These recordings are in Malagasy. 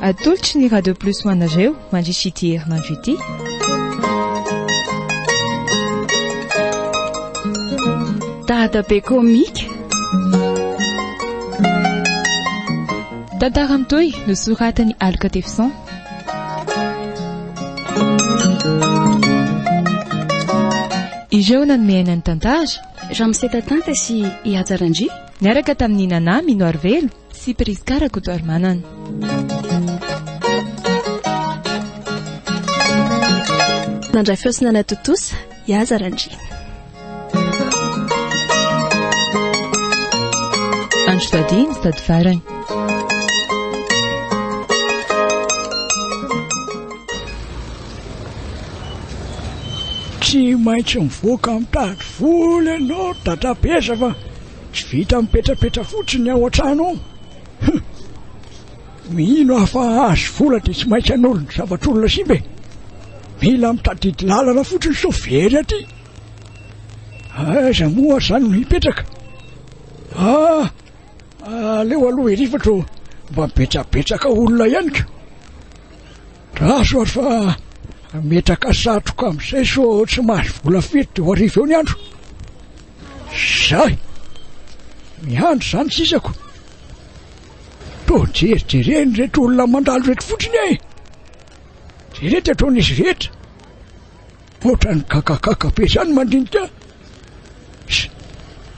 Atolotry ny Radio Plus ho anareo mandritra ity herinandro ity. Dadabe komika. Tantara mitohy nosoratan'i Aloka Tefison. Ireo nanome aina ny tantara. Ramose Tatanta sy i Hajarandria. Niaraka tamin'i Nana Minoarivelo sy Prisca Rakotoarimanana. Nandray feo sy nanao tontosa i Aza Randriana. Andro Sady ny Sady Farany. Tsy maintsy mivoaka mitady vola ianao, dada be aza fa Tsy vita mipetrapetra fotsiny ao an-trano ao. Huh! Mino aho fa hahazo vola dia tsy maintsy hanolo ny zavatr'olona simba e. Mila mitadidy lalana fotsiny sao very aty. Aiza moa ary izany no hipetraka? Ah! Aleo aloha ery fa toa mba betsabetsaka olona ihany ka. Draso ary fa metraka satroka amin'izay sao tsy mahazo vola firy dia ho hariva eo ny andro. Zay! Miandry zany sisako! Toa jerijereny reto olona mandalo reto fotsiny e! Jereo ty ataon'izy rehetra! Ohatran'ny gagagaga be zany mandinika!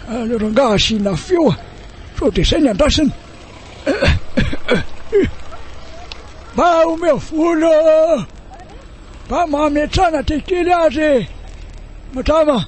Aleo rangaha asiana feo a! Sao dia zay ny andrasana! Mba omeo vola Mba mametrana ty kely azy e! Madama!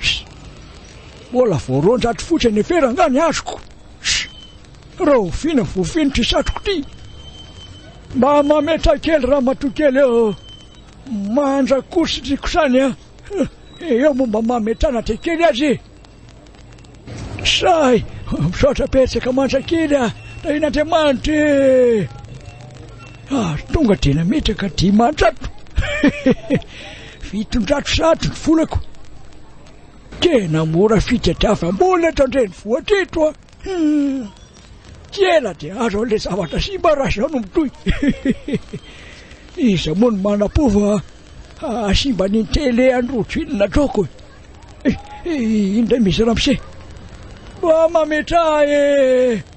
Sh! Mbola vao roanjato fotsy any efera angaha ny azoko? Sh! Rahoviana ny voafinitry satroko ty? Mba mametraha kely ramatoa kely eo, manja kosy ry kosany a! Eo moa mba mametrahana dia kely aza e! Sahy! Misaotra betsaka manja kely a! Tahian'Andriamanitra e! Ary tonga dia nametraka dimanjato! Fitondrako sady ny volako. Tena mora fitadiavam-bola eto an-drenivohitra eto a! Tsy ela dia azo an'ilay zavatra simba raha izao no mitohy. Iza moa no manam-po fa hahasimba an'iny tele an'i Rojo iny na Droco e! Indray misy ramose mba mametraha e!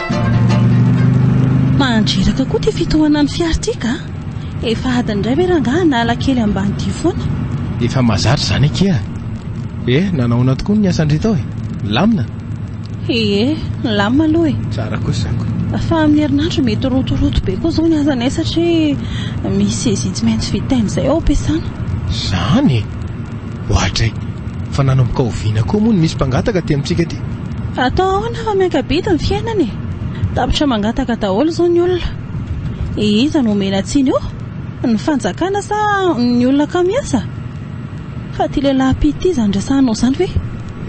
Mandreraka koa ity fitohanan'ny fiara ity ka! Efa adiny indray ve rangahy na alakely ambany ity foana? Efa mahazatra izany akia e! Eh, nanahoana tokoa ny asan-dry tao e? Milamina? Ie, milamina aloha e! Tsara kosa ko! Fa amin'ny herinandro mety rotoroto be koa izao ny asanay satria misy sezia tsy maintsy vitaina izay ao am-piasana. Izany e! Ohatray. Fa nanomboka oviana koa moa ny misy mpangataka aty amintsika aty? Atao ahoana fa miaka-bidy ny fiainana e! Tapitra mangataka daholo izao ny olona. Iza no omena tsiny eo? Ny fanjakana sa ny olona kamo miasa? Fa ity lehilahy mpitty izany resahanao izany ve?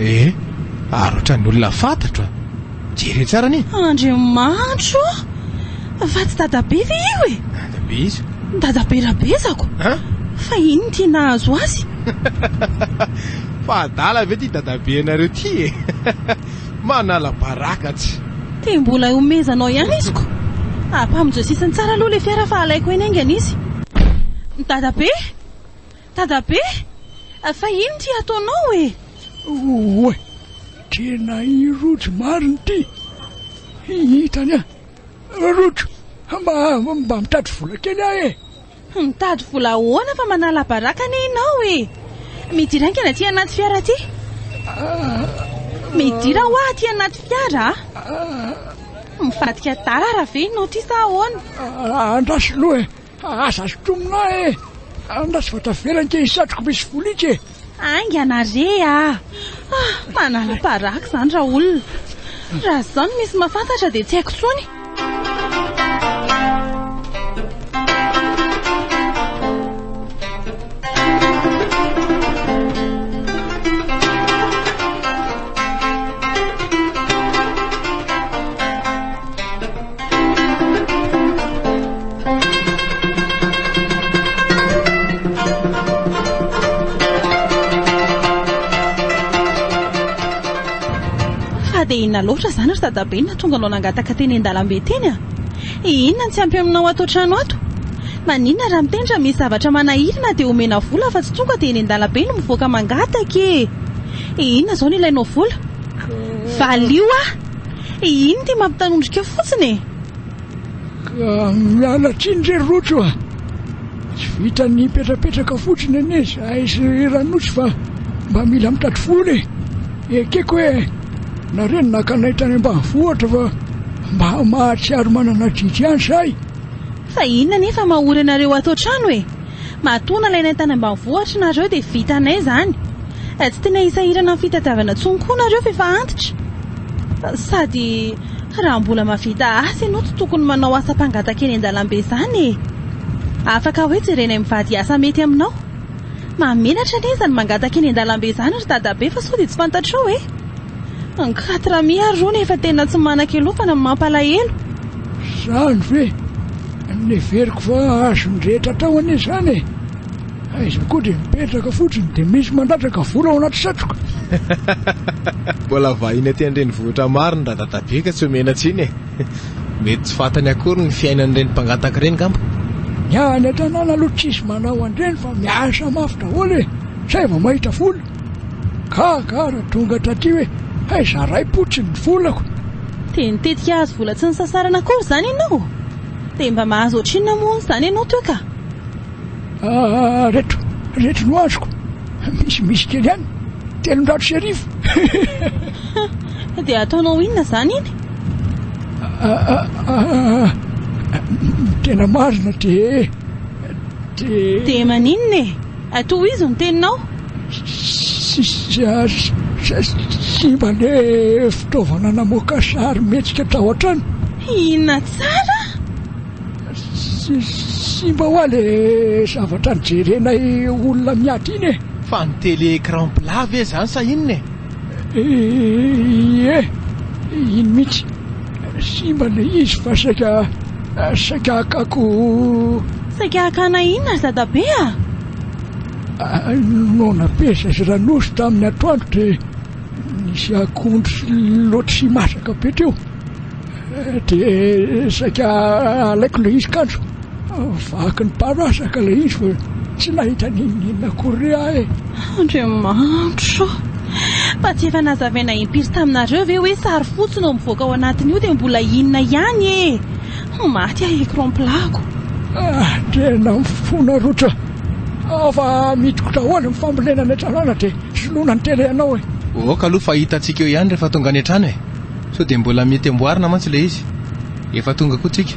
Ee, ary ohatran'ny olona fantatro a! Jere tsara anie. Andriamanitro o! Fa tsy dadabe ve io e? Dadabe iza? Dadabe Rabezako. An? Fa inn ty nahazo azy? Fa adala ve ty dadabe anareo ty e? Manala baraka tsy. Te mbola iomezanao ihany izy ko. Apamonjeo sisiny tsara aloha le fiara fa alaiko eny aingana izy. Dadabe! Dadabe, fa ino ity ataonao e? Oay, tena i Rojo marina ity. Hitany an! Rojo, mba mba mitady vola kely aho e! Mitady vola ahoana fa manala baraka anie ianao e! Midira haingana aty anaty fiara aty. Midira hoa aty anaty fiara a! Mivadika tara ve ianao ity sa ahoana? Andraso loha e! Fa aza asotromina ahy e! Angaha tsy vao tavela ange i satroko misy volika e! Haingana re a! Ah! Manala baraka izany raolona! Raha izao no misy mahafantatra dia tsy haiko intsony! Fa dia inona loatra izany ry dadabe no nahatonga anao nangataka teny an-dalambe teny a? Inona no tsy ampy aminao ato an-trano ato? Maninona raha miteny raha misy zavatra manahiry na dia omena vola fa tsy tonga dia eny an-dalambe no mivoaka mangataka e? Inona izao no ilainao vola? Valio a! E ino ty mampitanondrika fotsiny e. Ah, miala tsiny re Rojo a! Tsy vitan'ny hipetrapetraka fotsiny anie izahay sy ry Ranosy fa mba mila mitady vola e! Ekeko hoe nareo no naka anay tany ambanivohitra fa mba mahatsiaro manana adidy ihany izahay! Fa inona anie fa mahory anareo ato an-trano e! Matoa nalainay tany ambanivohitra nareo dia vitanay izany. Tsy tena hisahirana ny fitadiavana intsony koa nareo fa efa antitra. Sady raha mbola mahavita asa ianao tsy tokony manao asa mpangataka eny an-dalambe izany e! Afaka hoe jerenay mivady asa mety aminao. Mahamenatra anie izany mangataka eny an-dalambe izany ry dadabe fa sao dia tsy fantatrao e! Angaty Rami ary rony efa tena tsy manan-kelofana no mampalahelo. Zany ve? Neveriko fa azon'ny rehetra atao anie izany e! Aiza koa dia mipetraka fotsiny dia misy mandatraka vola ao anaty satroka. Mbola vahiny aty an-drenivohitra maro ny radadabe ka tsy omena tsiny e! Mety tsy fantany akory ny fiainan'ireny mpangataka ireny ngamba. Ny any an-tanàna aloha tsisy manao an'ireny fa miasa mafy daholo e! Izay vao mahita vola. Ka ka raha tonga hatraty hoe hay zaray potsiny ny volako. Dia nitetika hahazo vola tsy nisasarana akory izany ianao? Dia mba mahazo ohatrinona moa hono izany ianao toa ka? Ah reto reto no azoko misy misy kely ihany telonjato sy arivo. Hum dia ataonao inona izany iny? Ah ny tena marina dia dia. Dia maninona e? Tohizo ny teninao. Simba le fitaovana namoaka sary mihetsika tao an-trano. Hihina tsara. Simba hoa le zavatra nijerenay olona miady iny e. Fa ny télé écran plat ve zany sa inona e? Ie, iny mihitsy. Simba le izy fa saika saika hakako. Saika hakana inona ry dadabe a? Noana pesa sy Ranosy tamin'ny atoandro dia nisy akondro sy lotysy masaka be teo dia saika alaiko le izy kanjo. Vaky ny parasaka ilay izy fa tsy nahita na inona na inona akory re aho e! Andriamanitro ô! Fa tsy efa nazavaina impiry taminareo ve hoe sary fotsy no mivoaka ao anatin'io dia mbola inona ihany e! Ho maty aho écran plat-ko! Andriana ny fonareo tra! Aho fa midikotra ahoana ny fambolena any an-tanàna dia soloina ny télé anao e! Aoka aloha fa hitantsika eo ihany rehefa tonga any an-trano e! Sao dia mbola mety amboarina mantsy ilay izy! Efa tonga koa tsika!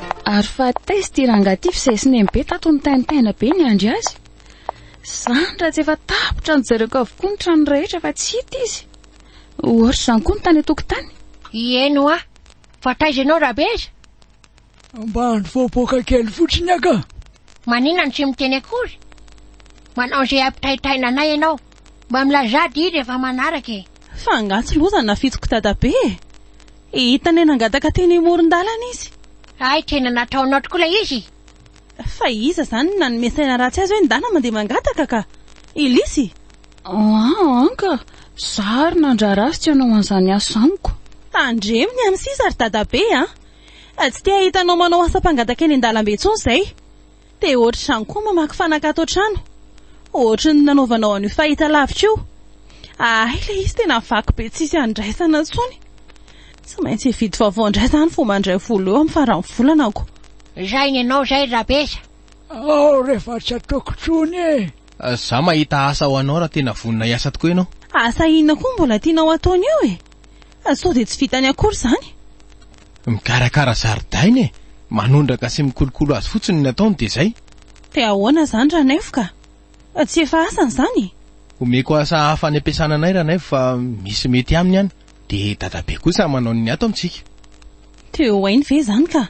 Ary fa test i rangah ty f'izay sinem be tato nitaintaina be niandry azy. Zany raha tsy efa tapitra nojereko avokoa ny trano rehetra fa tsy hita izy. Ohatr'izany koa ny tany an-tokotany. Ieny hoa! Fa taiza ianao Rabeza? Ambany voapoaka kely fotsiny aho ka. Maninona no tsy miteny akory? Manao izay hampitaitaina anay ianao. Mba milazà dia rehefa manaraka e! Fa angaha tsy loza ny nafitsiko dadabe e! Hita anie nangataka teny amoron-dalana izy. Hay tena nataonao tokoa ilay izy! Fa iza izany no nanome saina ratsy azy hoe ny dana mandeha mangataka ka! I Lisy? An ka! Za ary nandrara azy tsy hanao an'izany asa amiko. Tandremo ny an'i Siza ry dadabe a! Tsy te hahita anao manao asa mpangataka eny an-dalambe intsony izay! Te ohatr'izany koa mamaky fanaka ato an-trano, ohatry ny nanaovanao an'io fahitalavitra io. Ahay ilay izy tena vaky be tsisy andraisana intsony. Tsy maintsy hividy vaovao indray izany vao mandray vola eo amin'ny faran'ny volana ko. Izay ny anao izay Rabesa. Ao rehefa tsy ataoko tsony e! Za mahita asa ho anao raha tena vonona hiasa tokoa ianao. Asa inona koa mbola tianao ataony eo e? Sao dia tsy vitany akory izany? Mikarakara zaridaina e! Manondraka sy mikolokolo azy fotsiny ny ataony dia izay. Dia ahoana izany Ranaivo ka? Fa tsy efa asany izany e! Omeko asa hafa any am-piasana anay Ranaivo fa misy mety aminy any. Dia dadabe kosa manao ny ato amintsika. Dia ho hainy ve izany ka?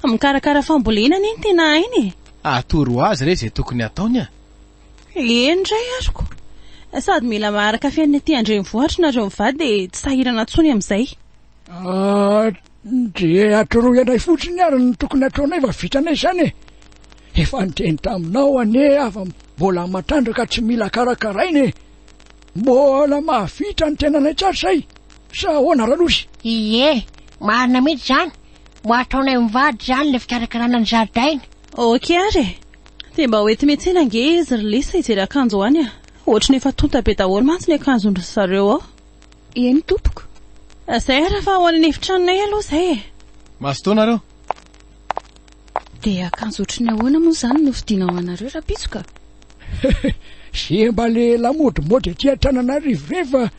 Mikarakara fambolena anie no tena hainy e! Atoro azy re izay tokony hataony a! Eny indray ary ko! Sady mila maharaka fiainana ety an-drenivohitra nareo mivady dia tsy sahirana intsony amin'izay. Ndry atoroy anay fotsiny ary ny tokony hataonay fa vitanay izany e! Efa niteny taminao anie aho fa mbola matrandraka tsy mila karakaraina e! Mbola mahavita ny tenanay tsara izay sa ahoana Ranosy? Ie, marina mihitsy izany, mba ataonay mivady izany ilay fikarakarana ny zaridaina. Ok ary e! Dia mba hoety miantsena ange izy ry Lisa hijery akanjo any a! Ohatran'ny efa tonta be daholo mantsy ny akanjon-dry zareo ao. Eny tompoko. Zay ara fa ao amin'ny efitranonay aloha zay e. Mazotoa nareo. Dia akanjo ohatry ny ahoana moa izany no fidina ho anareo rapitsoka? Ze mba le lamodimody aty Antananarivo rey fa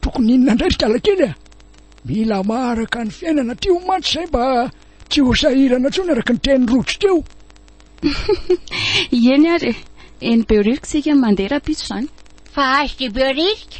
tokony inona ndray ry kalakely a! Mila maharaka ny fiainana aty o mantsy zay mba tsy ho sahirana tsony araka ny teny rojo teo. Eny ary e. Eny Behoririka isika no mandeha rapitso zany. Fa HJ Behoririka?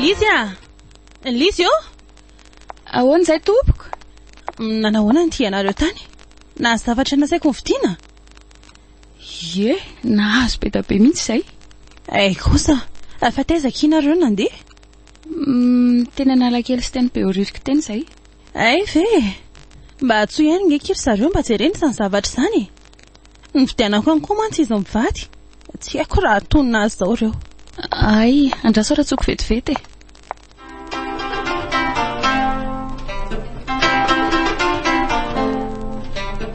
Lisy a! Lisy ô! Ahoana izay tompoko? Nanahoana ny tianareo tany? Nahazo zavatra nasaiko ny fidiana? Ie, nahazo be dia be mihitsy izay. Hay kosa, fa taiza akia nareo nandeha? Umm teny analakely sy teny behoririka teny izay. Hay ve e! Mba atsoy ihany nge ki ry zareo mba jerena izany zavatra izany e! Novidianako ihany koa mantsy izy mivady, tsy haiko raha hatonina azy izao ireo. Hay, andraso ary atsoiko vetivety e!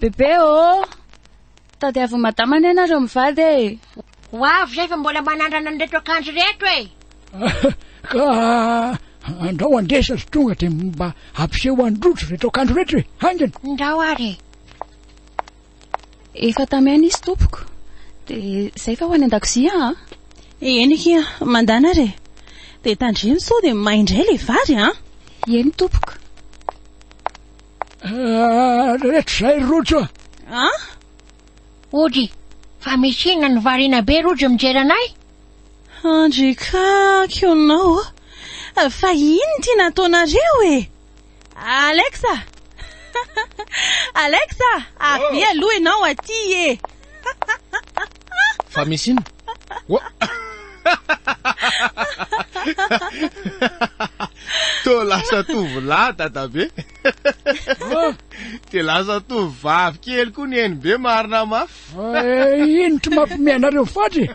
Bebe ô! Tadiavin'i Madama anie ianareo mivady e! Ho avy izay fa mbola manandrana an'ireto akanjo ireto e! Ka andrao andesa ry tonga dia mba ampiseho an-dRojo ireto akanjo ireto e! Haingana! Ndao ary e! Efa tamy aina izy tompoko. Dia izay fa ho any an-dakozia an! Eny akia, mandana ary e! Dia tandremo sao dia may indray ilay vary an! Eny tompoko. Rehetra izay ry Rojo a! An! Ody, fa misy inona no variana be Rojo mijery anay? Andry ka, kionao ô! Fa iny ity nataonareo e! Alex a! Alex a! Avia aloha ianao aty e! Fa misy inona? Wa! Toa lasa tovolahy dadabe. Dia lasa tovovavy kely koa ny NB marina mafy. Eh, ino tsy mampime anareo faty e?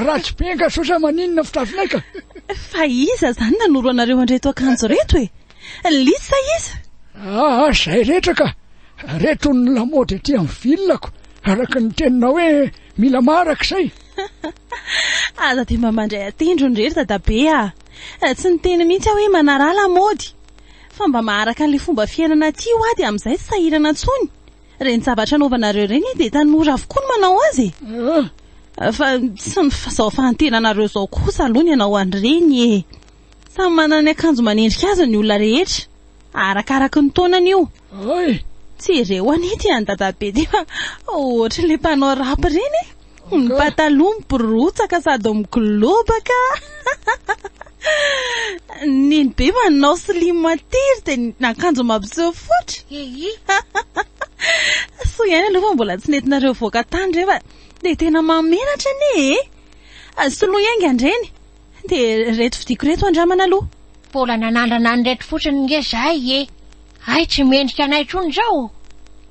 Ratsy be ankasosa maninona fitafinaika? Fa iza zany nanoro anareo andreto akanjo reto e? Ny lisa iza? Ah, zay rehetra ka! Reto ny lamaody aty amin'ny vilako, araka ny teninao hoe mila maraka izay. Aza dia mba mandray an-tendrony irery dadabe a! Ah. Tsy niteny mihitsy aho hoe manaraha lamaody, fa mba maharaka an'ilay fomba fiainana aty hoa dia amin'izay tsy sahirana intsony. Ireny zavatra anaovanareo ireny dia tanora avokoa no manao azy e! Ah. Fa tsy ny fahazahofahantenanareo izao kosa aloha ny hanao an'ireny e! Samy manana ny akanjo manendrika azy ny olona rehetra, arakaraky ny taonany io. Hay! Tsy ireo anie ity an'i Dadabe ty fa ohatran'ilay mpanao rap ireny e! Ny pataloha mibirotsaka sady migolobaka Neny be manao slim tiry dia ny akanjo mampiseho fotra Soa ihany aloha fa mbola tsy nentinareo hivoaka tany ireny fa dia tena mahamenatra anie e! Soloy hainga an'ireny! Dia ireto vidiako ireto andramana aloha. Mbola nanandrana an'ireto fotsiny nge zahay e! Hay tsy mendrika anay intsony izao!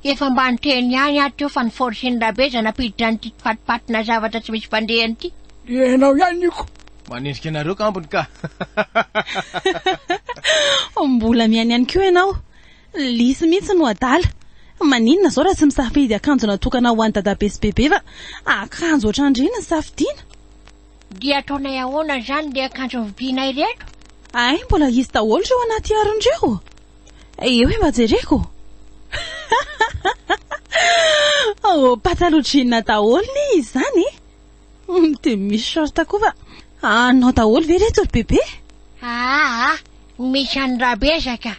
Efa mba niteny ihany aho teo fa ny forcen'i Rabeza nampiditra an'ity mpifatipatina zavatra tsy misy mpandehany ity. Ianao ihany Nico! Manendrika anareo kambony ka! Mbola mihaino ihany koa ianao! Lisy mihitsy no adala! Maninona izao raha tsy misafidy akanjo natokana ho an'i Dadabe sy Bebe fa akanjo ohatrandry ny safidiana? Dia ataonay ahoana izany ilay akanjo novidianay ireto? Hay, mbola hisy daholo ireo anaty harona ireo. Eo e, mba jereko. Ao oh, pataloha jean daholo ne izy izany. Hmm, dia misy short koa fa anao daholo ve ireto ry bebe? Aa, ah, ah, misy an'i Rabezaka.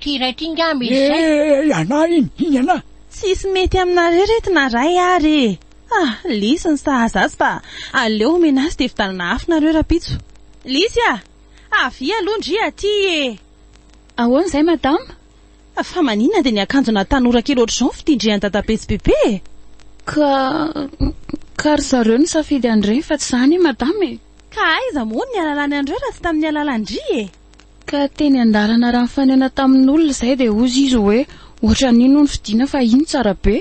Ty iray ty nga misy zay. Eeh anah iny, iny anah. Tsisy mety aminareo reto na ray ary e! ah lisy ny sahaza azy fa aleo omena azy dia vitanana afo nareo rapitso. Lisy a! avia aloha ndry aty e! Ahoana izay madama? Fa maninona dia ny akanjona tanora kely ohatr'izao no fitindrihan'i dadabe sy bebe e? Ka ka ry zareo nisafidy an'ireny fa tsy za anie madama e! Ka aiza moa no nihalalany an'ireo raha tsy tamin'ny alalan-dry e! Ka teny an-dalana raha nifanena tamin'olona izay dia hozy izy hoe ohatran'iny hono fidiana fa iny tsara be.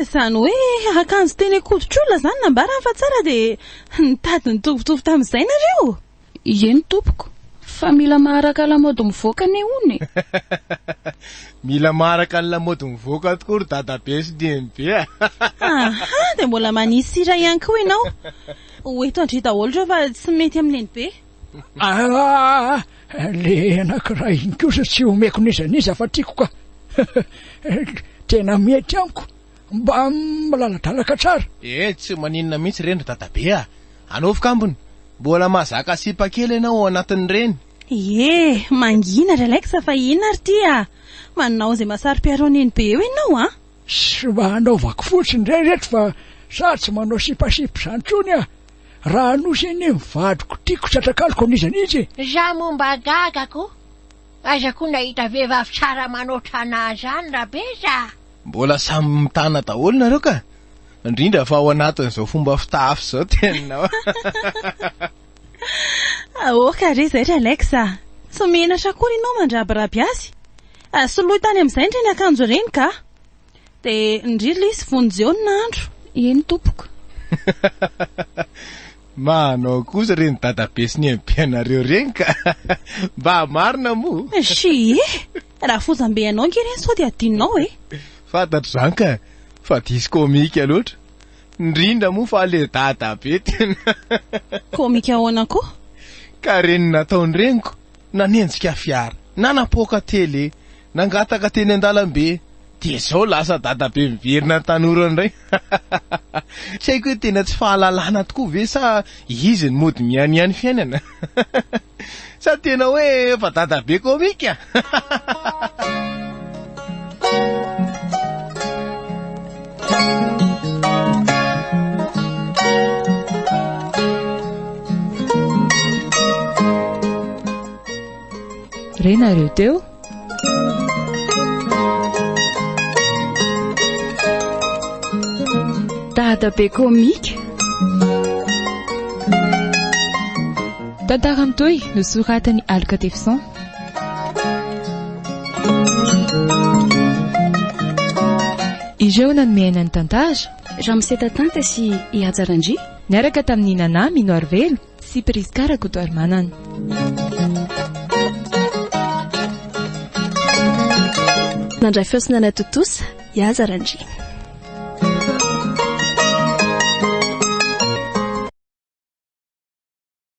Izany hoe akanjo teny an-koditr'olona izany nambarany fa tsara dia nitady nitovitovy tamin'izay nareo? Ieny tompoko. Fa mila maharaka lamaody mivoaka anie hono e! Mila maharaka ny lamaody mivoaka tokoa ry dadabe sy nenibe a! Aha! Dia mbola manisy sira ihany koa ianao. Ho eto an-dry daholo ireo fa tsy mety amin'ny nenibe. Aah! Le anankiray iny kosa tsy omeko n'iza n'iza fa tiako ka! Tena mety amiko! Mba milaladalaka tsara! Eh, tsy maninona mihitsy ireny ry Dadabe ah! Anaovy kambony! Mbola mahazaka sipa kely ianao ao anatin'ireny! Ie, mangina ry Alex fa inona ary ity ah! Manao izay mahasaro-piaron'iny be eo ianao an! Sy mba anaovako fotsiny re ireto fa za tsy manao sipasipa izany intsony ah! Raha nosy anie ny vadiko tiako tsy atrakaloko an'iza n'intsy e! Za moa mba gaga ko! Aiza ko nahita vehivavy tsara manoatra anà zany rabe za! Mbola samy mitana daholo nareo ka! Indrindra fa ao anatin'izao fomba fitafy zao tena Aoka re zay ry Alex a! Tsy menatra akory ianao mandrabiraby azy! Soloy tany amin'izay ndry ny akanjo ireny kah! Dia nirily izy vonjy eo ny andro. Eny tompoko. Manao kosa reny dadabe sy ny aim-pianareo reny ka. Mba marina moa. Shie! Raha fozam-be anao ange reny sao dia adinonao e. Fantatro izany ka, fa diso komika loatra. Indrindra moa fa ilay dadabe tena. Komika ahoana koa? Ka reny nataon'ny reniko. Nanenjika fiara, nanapoaka tele, nangataka teny an-dalambe, dia izao lasa dadabe miverina ny tanora indray. Tsy haiko hoe tena tsy fahalalana tokoa ve sa izy no mody mianiany fiainana? Sa tena hoe efa dadabe komika? renareo teo dadabe komika tantara mitohy nosoratan'ny aloka tefison Ireo nanome aina ny tantara. Ramose Tatanta sy i Haja Randria. Niaraka tamin'i Nana Mino Arivelo sy Prisca Rakotoarimanana. Nandray feo sy nanao tontosa i Haja Randria.